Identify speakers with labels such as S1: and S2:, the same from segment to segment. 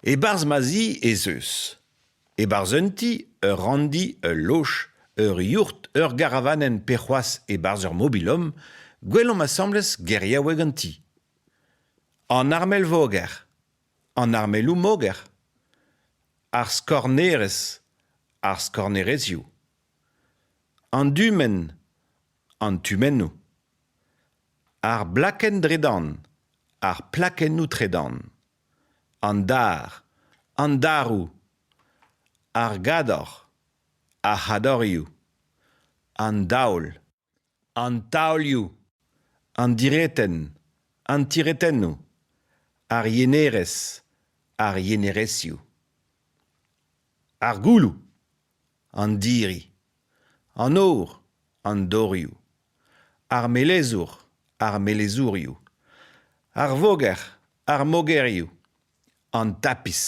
S1: E-barzh ma zi ez eus. E-barzh un ti, ur ranndi, ul loch, ur yourt, ur garavanenn pe c'hoazh e-barzh ur mobilom, gwelomp asambles geriaoueg an ti. An armel voger. An armeloù moger. Ar skornerezh. Ar skornerezioù. An dumenn. an tumennoù. Ar blakenn-tredan, ar plakennoù-tredan, an dar, an daroù, ar gador, ar c'hadorioù, an daol, an taolioù, an diretenn, an tiretennoù, ar yenerez, ar yenerezioù. Ar gouloù. an diri an or an dorioù ar melezour ar melezourioù ar voger ar mogerioù an tapis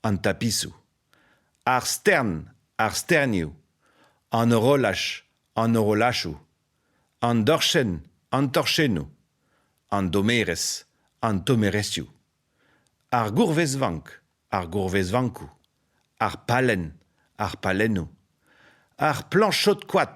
S1: an tapisoù ar stern ar sternioù an horolaj an horolajoù an dorchenn an torchennoù an dommerez an tommerezioù Ar gourvezvank, ar gourvezvankoù, ar pallenn, ar pallennoù, ar plañchod-koad.